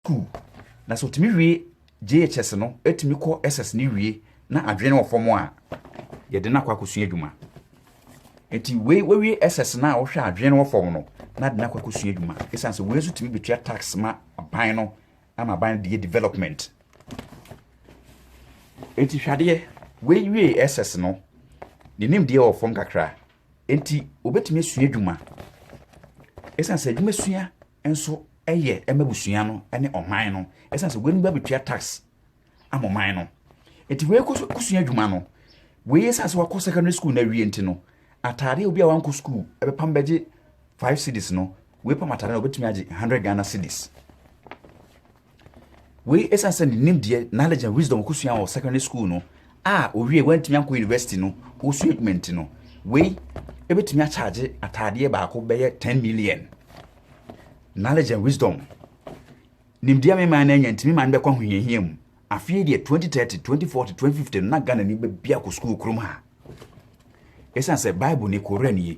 Sukuu, na sɛ ɔtumi wie JHS no, ɛtumi kɔ SS no wie na adwene no wɔ fam a, yɛde no akɔ akɔsua adwuma. Nti wei wawie SS no a ɔhwɛ adwene no wɔ fam no, na de no akɔ akɔsua adwuma. Ɛsiane sɛ wei nso tumi bɛtua tax ma aban no, ama aban no de yɛ development. Nti hwadeɛ, wei wie SS no, ne nimdeɛ wɔ fam kakra, nti wɔbɛtumi asua adwuma. Ɛsiane sɛ adwuma sua nso yɛ ma abusua no ne ɔman no ɛsiane sɛ weinom ba bɛtua tax ama ɔman no nti wei kɔ so kɔsua adwuma no wei ɛsiane sɛ wakɔ secondary school no awie nti no ataadeɛ obi a wankɔ school ɛbɛpam bɛgye 5 cities no wei pam ataadeɛ no ɔbɛtumi agye 100 Ghana cities Wei ɛsiane sɛ ne nimdeɛ, knowledge and wisdom ɔkɔsua wɔ secondary school no a owie wantumi ankɔ university no ɔsua adwuma nti no wei ɛbɛtumi akyagye ataadeɛ baako bɛyɛ 10 million knowledge and wisdom nimdeɛ me man no anya ntumi man bɛkɔ ahohiahia mu afei deɛ 2030 2040 2050 no na Ghana ni bɛbi akɔ sukuu kurom ha ɛsiane sɛ bible ne koran nie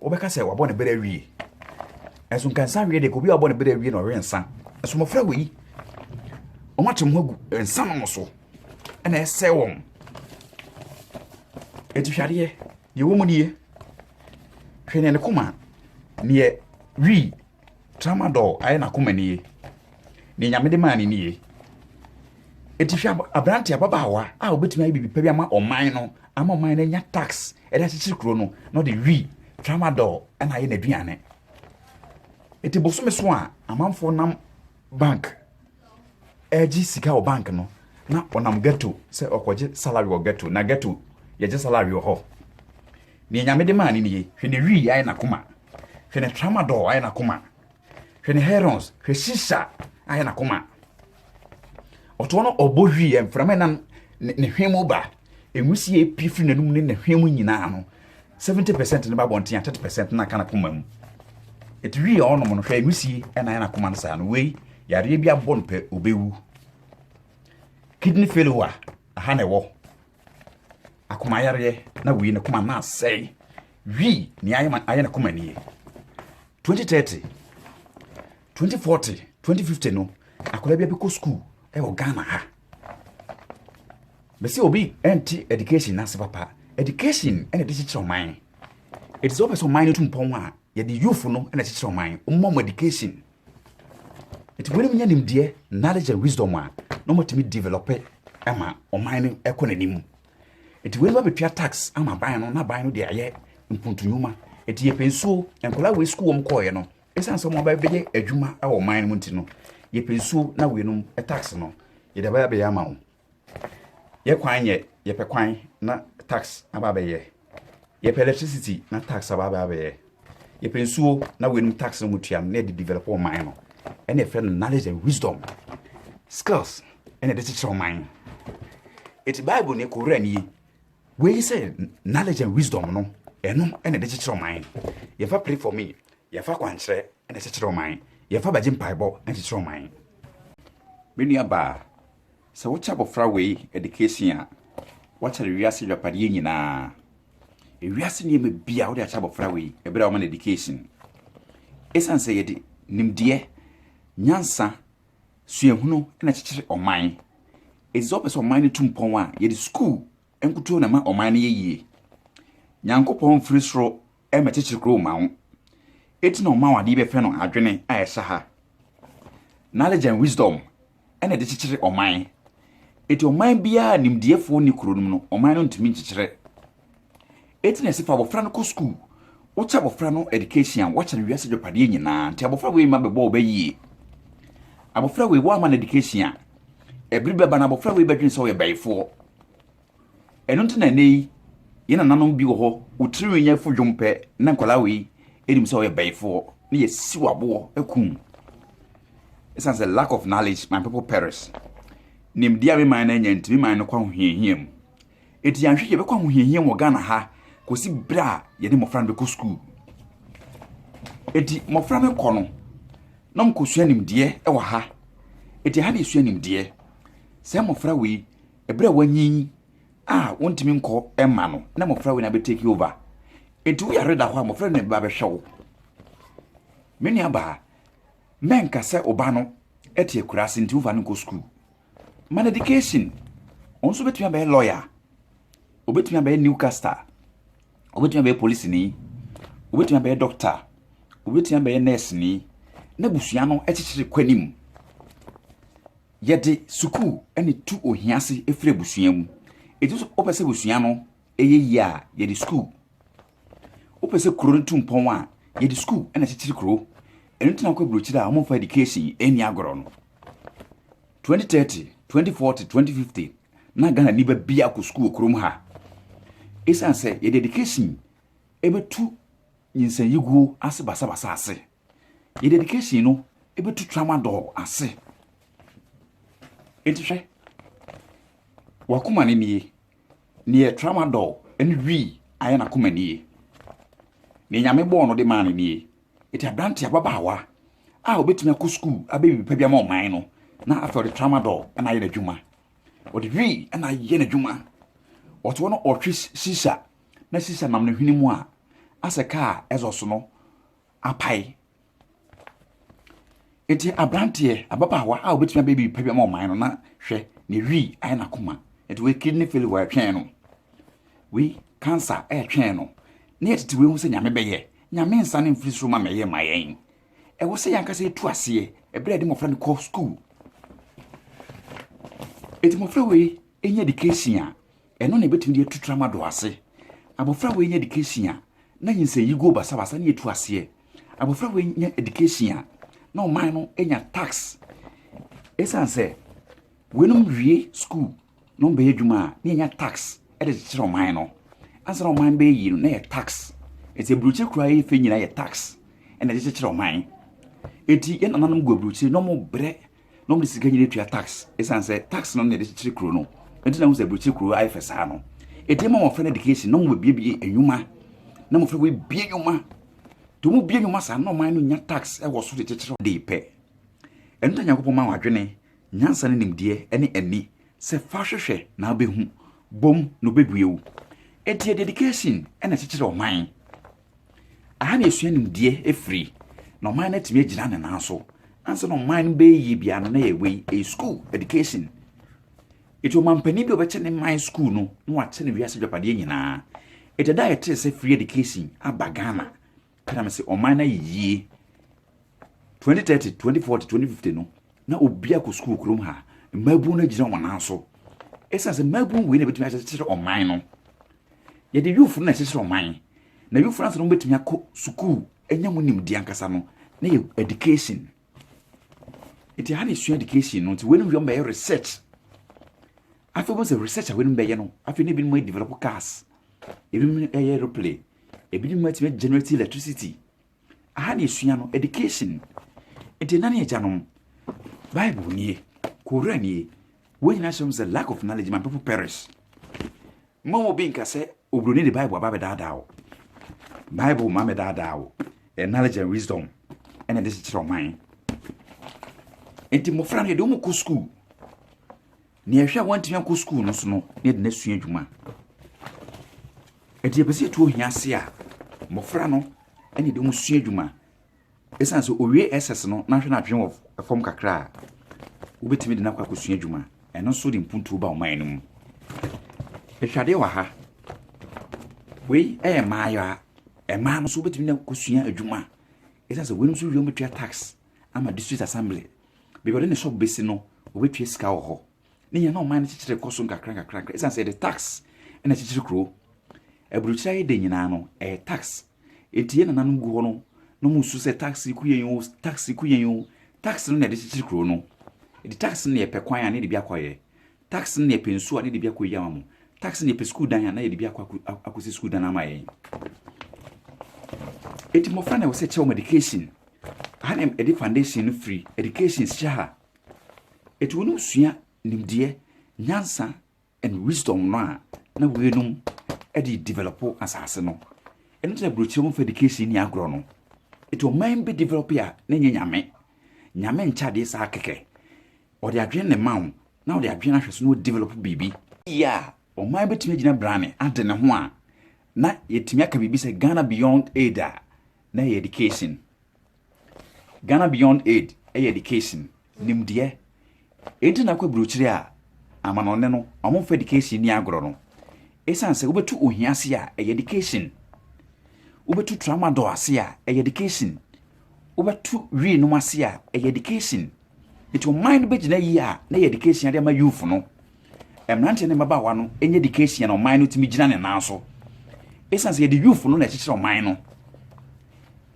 Wobɛka sɛ wabɔ ne bere awie. Nanso nka nsa awie de, obi a wabɔ ne bere awie na ɔwe nsa. Nso mmɔfra wɔ yi. Wɔn akyem ho agu nsa nom so. Ɛna ɛsɛ wɔn. Eti hwɛ adeɛ. Deɛ ɛwɔ mu nie. Hwɛ neɛ ne koma, neɛ wii Tramadol ayɛ n'akoma ni ye. Nea Nyame de maa no ni ye. Eti hwɛ aberante ababaawa a obetumi ayɛ biribi pa bi ama ɔman no, ama ɔman no anya tax ɛde akyekyere kuro no, na ɔde wi, tramadol, ɛna ayɛ n'aduane. Eti bosome so a amanfoɔ nam bank ɛregye sika wɔ bank no, na ɔnam ghetto sɛ ɔkɔgye salary wɔ ghetto, na ghetto yɛgye salary wɔ hɔ. Nea Nyame de maa no ni ye. Hwɛ ne wi ayɛ n'akoma. Hwɛ ne tramadol ayɛ n'akoma. Hwɛ ne herons. Hwɛ sisa ayɛ n'akoma. Ɔtoɔ no ɔbɔ hwi yɛ mframa nam ne hwɛ mu ba. Enwisie pie firi n'anum ne ne hwɛ mu nyinaa no. Seventy percent ne ba bɔnten a thirty percent na aka n'akoma mu. Eti wi a ɔnom no hwɛ enwisie ɛna ayɛ n'akoma no saa no wei yareɛ bi abɔ no pɛ obewu. Kidney failure aha na ɛwɔ akoma yareɛ na wei ne koma na asɛe wi nea ayɛ ma ayɛ ne koma nie 2030 2040 2050 no akwadaa bi abɛkɔ sukuu ɛwɔ ghana ha bɛsɛ obi ɛnte education n'ase papa education ɛna ɛde kyekyerɛ ɔman ɛte sɛ wopɛ sɛ ɔman no tu mpɔn a yɛde youth no ɛna kyekyerɛ ɔman ɔmma mo education Nti wɔn nya nimdeɛ, knowledge and wisdom a na wɔatumi develop ma ɔman no ɛkɔ n'anim. Nti wɔn bɛtua tax ama aban no na aban no de ayɛ mpuntunwuma. Nti yɛpɛ nsuo, nkwadaa wei sukuu wɔn kɔɔeɛ no, ɛsiane sɛ wɔn aba bɛyɛ adwuma wɔ ɔman no mu nti no, yɛpɛ nsuo na weinom tax no yɛde abɛyɛ abɛyɛ ama wɔn. yɛ kwan yɛ yɛpɛ kwan na tax aba abɛyɛ yɛpɛ electricity na tax aba aba abɛyɛ yɛpɛ nsuo na wɔnum tax na wɔtua no na yɛde develop ɔman no ɛna yɛfrɛ no knowledge and wisdom skills ɛna yɛde kyekyere ɔman no eti bible ne kowura ni yi wei sɛ knowledge and wisdom no ɛno ɛna yɛde kyekyere ɔman no yɛfa pray for me yɛfa kwankyerɛ ɛna kyekyere ɔman yɛfa bagye mpaebɔ ɛna kyekyere ɔman me nua baa Sɛ wokyɛ abɔfra wei ɛdikeesin a, woakyɛ no wiase agyapadeɛ nyinaa. Ewiase nneɛma bi a wode akyɛ abɔfra wei ɛberɛ a woma no ɛdikeesin. Ɛsiane sɛ yɛde nimdeɛ, nyansa, suahunu na kyekyere ɔman. Ɛti sɛ wopɛ sɛ ɔman no tu mpɔn a, yɛde sukuu nkutoo na ɛma ɔman no yɛ yie. Nyankopɔn mfiri soro mɛkyekyere kurow mma wo. Enti na ɔma wɔn ade bɛfɛ no adwene a ɛsɛ ha. Knowledge and wisdom na ɛde kyekyere ɔman. Enti ɔman biara a nimdeɛfoɔ nni kuro no mu no, ɔman no ntumi nkyekyere. Enti na ɛsɛ fa abɔfra no kɔ sukuu. Wokyɛ abɔfra no education a, woakyɛ no wiase adwapadeɛ nyinaa. Nti abɔfra wei ma bɛbɔ wo bɛ yie. Abɔfra wei, woamma no education a, ɛbere bɛba na abɔfra wei bɛdwene sɛ ɔyɛ bɛyifoɔ. Ɛno nti na ɛnnɛ yi yɛn nananom bi wɔ hɔ, wo tirinwi nyɛ fo dwom pɛ na nkwadaa wei ɛnim sɛ ɔyɛ bɛyifoɔ na yɛsi wɔ aboɔ akum. Ɛsiane sɛ lack of knowledge my people perish. Nimdeɛ a me man no anya nti me man no kɔ ahohiahia mu. Ɛti yɛanhwɛ yɛbɛkɔ ahohiahia mu wɔ Ghana ha kɔsi berɛ a yɛde mmɔfra no bɛkɔ sukuu. Ɛti mmɔfra no kɔ no na wɔkɔsua nimdeɛ wɔ ha. Ɛti ɛha na yɛsua nimdeɛ. Sɛ mmɔfra wei ɛberɛ a wanyin a wontumi nkɔ ɛma no na mmɔfra wei na bɛ take over eti wo yare da hɔ a mmɔfra na ɛbɛba bɛhwɛ wo me nua baa mɛnka sɛ ɔba no ɛte akura ase nti wofa no nkɔ sukuu man education wɔn nso bɛtumi abɛyɛ lawyer obɛtumi abɛyɛ newcaster obɛtumi abɛyɛ polisi ni obɛtumi abɛyɛ doctor obɛtumi abɛyɛ nurse ni na busua no ɛkyekyere kɔ anim Yɛde sukuu na etu ohia ase firi abusua mu. Enti so wopɛ sɛ abusua no yɛ yie a, yɛde sukuu. Wopɛ sɛ kuro no tu mpɔn a, yɛde sukuu na ɛkyekyere kuro. Ɛno nti na wokɔ aburokyire a wɔmfa education ɛnni agorɔ no. 2030, 2040, 2050 na Ghana ni ba bia kɔ sukuu wɔ kurom ha. Ɛsiane sɛ yɛde education ɛbɛtu nyinsanyiguo ase basabasa ase. Yɛ dedication no ebetu tramadol ase. Enti hwɛ, wakoma ne nie, neɛ tramadol ne wii ayɛ n'akoma nie. Neɛ nyame bɔɔ no de maa no nie. Eti aberante ababaawa a obetumi akɔ sukuu abɛyɛ biribi pa bi ama ɔman no na afei ɔde tramadol na ayɛ n'adwuma. Ɔde wii na ayɛ n'adwuma. Ɔte hɔ na ɔhwe sisa na sisa nam ne hwene mu a asɛ kaa exhaust no apae. Enti aberanteɛ, ababaawa a obetumi abɛyɛ biribi pa bi ama ɔman no na hwɛ ne wi ayɛ n'akoma. Enti wei kidney failure ɛretwɛn no. Wei cancer ɛretwɛn no. Ne yɛtete wei ho sɛ nyame bɛyɛ. Nyame nsa no mfiri soro ma mɛyɛ ma yɛn. Ɛwɔ sɛ yɛn ankasa yɛtu aseɛ ɛberɛ a yɛde mmɔfra no kɔ sukuu. Enti mmɔfra wei ɛnya education a Ɛno na ɛbɛtumi de atu tra ma dɔ ase. Abɔfra wei nya education a, na nyinsɛn yi go basabasa ne ɛtu aseɛ. Abɔfra wei nya education a, na ɔman no nya tax. Ɛsiane sɛ weinom wie school na wɔbɛyɛ adwuma a, na yɛnya tax de kyekyere ɔman no. Ansa na ɔman bɛyɛ yie no, na yɛ tax. Ɛti aburokyire koraa yɛ fɛ nyinaa yɛ tax na ɛde kyekyere ɔman. Ɛti yɛn nananom gu aburokyire na wɔbrɛ na wɔde sika nyina tua tax ɛsiane sɛ tax no na yɛde kyekyere kuro no ɛnti na ho sɛ aburokyire kuro ayɛ fɛ saa no ɛdeɛ ma wɔfrɛ no education na wɔbɛbiebie nnwuma na mofrɛ wɔbie nnwuma nti wɔn bie nnwuma saa na ɔman no nya tax ɛwɔ so de kyekyere de pɛ ɛno ta nyankopɔn ma wadwene nyansa ne nimdeɛ ɛne ani sɛ fa hwehwɛ na abɛhu bom na ɔbɛbue wo ɛdeɛ dedication ɛna kyekyere ɔman Aha na yɛsua nimdeɛ firi, na ɔman no atumi agyina ne nan so. Ansa na ɔman no bɛyɛ yie biara no, na ɛyɛ wei, ɛyɛ sukuu, education. Eti ɔmampanin bi a ɔbɛkyɛ ne man sukuu no na wakyɛ ne wiase agyapadeɛ nyinaa. Ɛdɛ da a yɛtee sɛ free education aba Ghana, ɛna me sɛ ɔman no ayɛ yie. Twenty thirty, twenty forty, twenty fifty no, na obi akɔ sukuu kurom ha. Mmaabun no agyina wɔn nan so. Ɛsan sɛ mmaabun wei na ebetumi akyekyere ɔman no. Yɛde yufo no na ɛkyekyere ɔman. Na yufo no asɛ no betumi akɔ sukuu, anya mu nimdeɛ ankasa no, na yɛ education. Nti ha na esua education no. Nti wei no yɛ mbɛyɛ research. Afei wɔn sɛ research a wei no bɛyɛ no, afei na ebinom ayɛ develop cars, ebinom ayɛ aeroplane, ebinom atumi generate electricity. Aha na esua no, education. Nti ɛna ne agyanom. Bible nie, Koran nie. Wɔn nyinaa hyɛ mu sɛ lack of knowledge ma people perish. Mma obi nka sɛ oburoni de Bible aba bɛdaadaa wo. Bible ma bɛdaadaa wo. Ɛyɛ knowledge and wisdom ɛna ɛde kyekyerɛ ɔman. Nti mmɔfra no yɛde wɔn kɔ sukuu. Nea ɛhwɛ a wantumi ankɔ sukuu no so no na yɛde no asua adwuma. Ɛti yɛpɛ sɛ yɛtu ohia ase a mmɔfra no ɛna yɛde wɔn sua adwuma. Ɛsiane sɛ owie SS no na ahwɛ no adwene wɔ fam kakra a, wobɛtumi de no akɔ akɔsua adwuma. Ɛno nso de mpuntuo ba ɔman no mu. Ɛhwadeɛ wɔ ha. Wei ɛyɛ mmaayewa. Mmaa no nso wobɛtumi de akɔsua adwuma. Ɛsiane sɛ weinom nso wie wɔn bɛtua tax ama district assembly. baabi a ɔde ne shop bɛsi no, ɔbɛtua sika wɔ hɔ. Ne nyɛ na ɔman no kyekyere kɔ so nkakra nkakra nkakra. Ɛsiane sɛ yɛde tax na ɛkyekyere kuro. Aburokyire ayɛ den nyinaa no, ɛyɛ tax. Enti yɛn nananom gu hɔ no, na wɔn su sɛ tax ku yɛn o, tax ku yɛn o. Tax no na yɛde kyekyere kuro no. Enti tax no na yɛpɛ kwan a ne yɛde bi akɔyɛ. Tax no na yɛpɛ nsuo a na yɛde bi akɔyi ama mo. Tax no na yɛpɛ sukuu dan a na yɛde bi akɔ akɔsi sukuu dan ama yɛn. Eti mmɔfra na ɛwɔ sɛ kyɛw wɔn education. Aha na ɛde foundation no firi education hyɛ ha. Eti wɔn sua nimdeɛ, nyansa and wisdom no a na wɔnom de develop asase no. Ɛno nti na burokyerɛ mu fa education ni agorɔ no. Eti ɔman bi develop a na nyɛ nyame. Nyame nkyɛ adeɛ saa kɛkɛ. ɔde adwene na ɛma wo na ɔde adwene ahwɛ so na ɔ develop biribi. Yɛ a ɔman bɛtumi agyina brane ade ne ho a, na yɛtumi aka biribi sɛ Ghana Beyond Aid a na ɛyɛ education. Ghana Beyond Aid yɛ education, nimdeɛ. Enti na kɔ aburokyire a amanɔne no wɔn mfa education ni agorɔ no. Ɛsiane sɛ wobɛtu ohia ase a ɛyɛ education. Wobɛtu tramadol ase a ɛyɛ education. Wobɛtu wii nom ase a ɛyɛ education. Nti ɔman no bɛgyina yie a na yɛde keesia de ama youth no. Mmeranteɛ ne mmabaawa no nyɛ de keesia na ɔman no tumi gyina ne nan so. Ɛsiane sɛ yɛde youth no na ɛkyekyere ɔman no.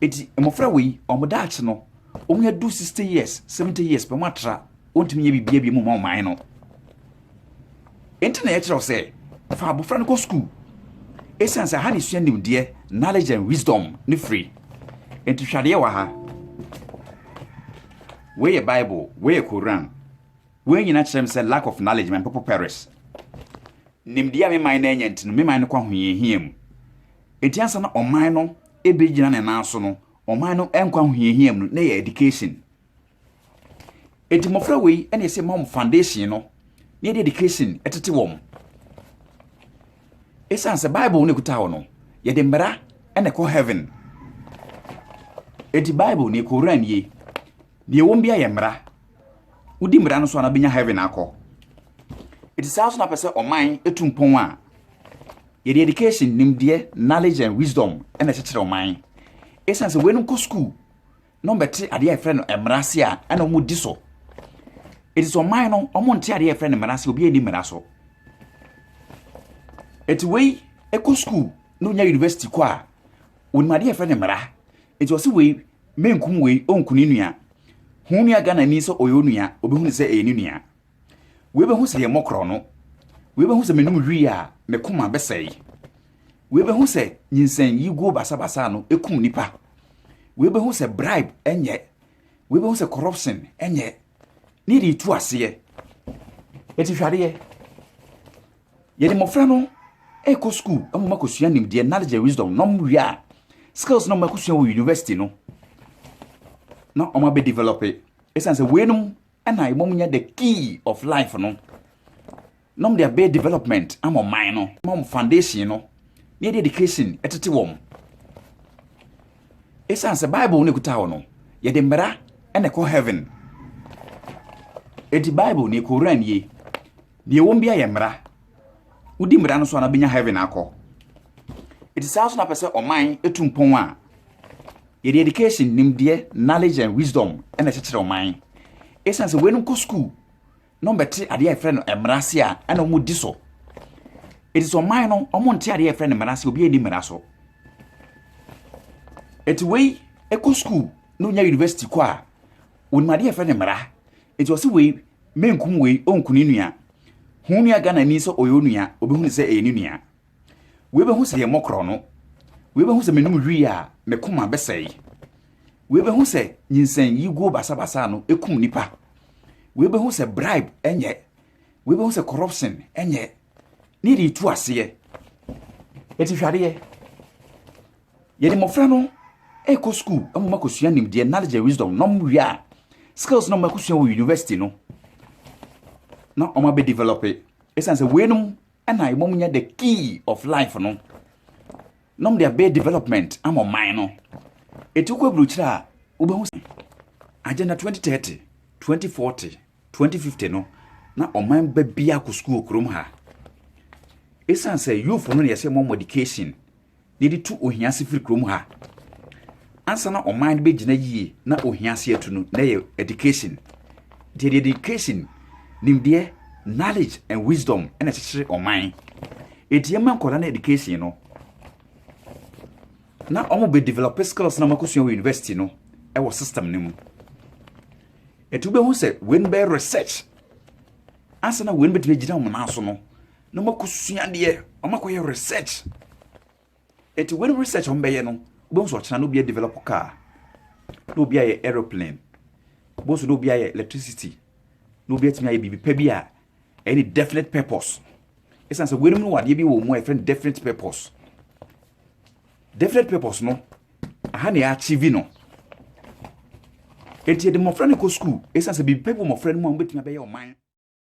Nti mmɔfra wei, wɔn daakye no, wɔn adu 60 years, 70 years pɛ wɔn atra, wɔntumi nyɛ biribiara bi mu ma ɔman no. Enti na yɛkyerɛ wo sɛ, fa abofra no kɔ sukuu. Esiane sɛ ha na esua nimdeɛ, knowledge and wisdom, no firi. Enti hwɛ adeɛ wɔ ha. Wei yɛ Bible, wei yɛ Koran. Wei nyinaa kyerɛ me sɛ lack of knowledge my people perish. Nimdeɛ a me man no anya nti no, me man no kɔ ahohiahia mu. Enti ansa na ɔman no ebegyina ne nan so no, ɔman no nkɔ ahohiahia mu no, na ɛyɛ education. Enti mmɔfra wei na ɛsɛ ma wɔn foundation no na yɛde education tete wɔn. Ɛsiane sɛ Bible na ɛkuta hɔ no, yɛde mmara na ɛkɔ heaven. Enti Bible ne Koran nie, deɛ wɔn bi ayɛ mmara. Wodi mmara no so a na bɛnya heaven akɔ. Enti saa nso na pɛ sɛ ɔman etu mpɔn a yɛde education nimdeɛ knowledge and wisdom na ɛkyekyere ɔman. Ɛsiane sɛ wɔn nkɔ sukuu na wɔbɛte adeɛ a yɛfrɛ no mmara ase a ɛna wɔn di so eti sɛ ɔman no wɔn nte adeɛ a yɛfrɛ no mmara ase obi ani mmara so eti wei ɛkɔ sukuu na onya university kɔ a wɔn adeɛ a yɛfrɛ no mmara eti ɔsi wei menkum wei ɔnkuni nua ho nua ghana ni sɛ ɔyɛ onua obi hu sɛ ɛyɛ ne nua. Wei bɛhu sɛ yɛmmɔ korɔno. Wei bɛhu sɛ menom wii a me koma bɛsɛe. Wei bɛhu sɛ nyinsɛn yiguo basabasa no ɛkum nnipa. Wei bɛhu sɛ bribe ɛnyɛ. Wei bɛhu sɛ corruption ɛnyɛ. Ne yɛde tu aseɛ. Ɛti hwadeɛ. Yɛde mmɔfra no ɛkɔ sukuu ɛmu ma kɔsua nimdeɛ knowledge and wisdom nom wie a skills no makɔsua wɔ university no na ɔma bɛ develop ɛsiane sɛ weinom ɛna mmom nyɛ the key of life no na wɔde abɛyɛ development ama ɔman no ma wɔn foundation no na yɛde education ɛtete wɔn ɛsiane sɛ bible no ɛkuta hɔ no yɛde mmara ɛna ɛkɔ heaven ɛti bible ne ɛkɔwura nie deɛ wɔn bi ayɛ mmara wodi mmara no so a na benya heaven akɔ ɛti saa nso na pɛ sɛ ɔman ɛtu mpɔn a yɛde education nimdeɛ knowledge and wisdom ɛna ɛkyekyerɛ ɔman ɛsiane sɛ weinom kɔ sukuu na ɔmbɛte adeɛ a yɛfrɛ no mmara ase a ɛna wɔn di so ɛti sɛ ɔman no wɔn nte adeɛ a yɛfrɛ no mmara ase obi ɛni mmara so ɛti wei ɛkɔ sukuu na onya university kɔ a wɔnim adeɛ a yɛfrɛ no mmara Enti ɔse wei menkum wei ɔnku ne nua Hu wo nua Ghanani sɛ ɔyɛ wo nua ɔbɛhu no sɛ ɛyɛ ne nua Wei bɛhu sɛ yɛmmɔ korɔno Wei bɛhu sɛ menom wii a me koma bɛsɛe Wei bɛhu sɛ nyinsɛn yi guo basabasa ano ɛkum nnipa Wei bɛhu sɛ bribe ɛnyɛ Wei bɛhu sɛ corruption ɛnyɛ Ne yɛde retu aseɛ Enti hwɛ adeɛ Yɛde mmɔfra no rekɔ sukuu ama wɔakɔsua nimdeɛ, knowledge and wisdom, na wɔwie a, skills na wɔakɔsua wɔ university no na wɔn abɛ develop ɛsiane sɛ weinom ɛna ɛma wɔn nya the key of life no na wɔn de abɛ development ama ɔman no eti wokɔ aburukyerɛ a wobɛhu sɛ agenda 2030 2040 2050 no na ɔman bɛ bi akɔ sukuu kurom ha ɛsiane sɛ youth no na yɛsɛ wɔn education yɛde tu ohia se firi kurom ha ansa na ɔman no bɛgyina yie na ohia se atu no na ɛyɛ education nti yɛde education nimdeɛ knowledge and wisdom ɛna ɛkyekyere ɔman ɛti yɛma nkɔda no education no na wɔn bɛ develop skills na wɔn akosua wɔ university no ɛwɔ system no mu ɛti wobɛhu sɛ wɔn bɛ research ansa na wɔn bɛtumi agyina wɔn nan so no na wɔn akɔ sua adeɛ wɔn akɔ yɛ research eti wɔn research wɔn bɛyɛ no wɔn nso ɔkyena na obi develop car na obi ayɛ aeroplane wɔn nso na obi ayɛ electricity na obi atumi ayɛ biribi pɛ bi a ɛyɛ ne definite purpose ɛsan sɛ wɔn mu wɔ adeɛ bi wɔ mu a yɛfrɛ no definite purpose definite purpose no aha na yɛ achieve no eti yɛde mmɔfra no kɔ sukuu ɛsan sɛ biribi pɛ bi wɔ mmɔfra no mu a wɔn bɛtumi abɛyɛ ɔman.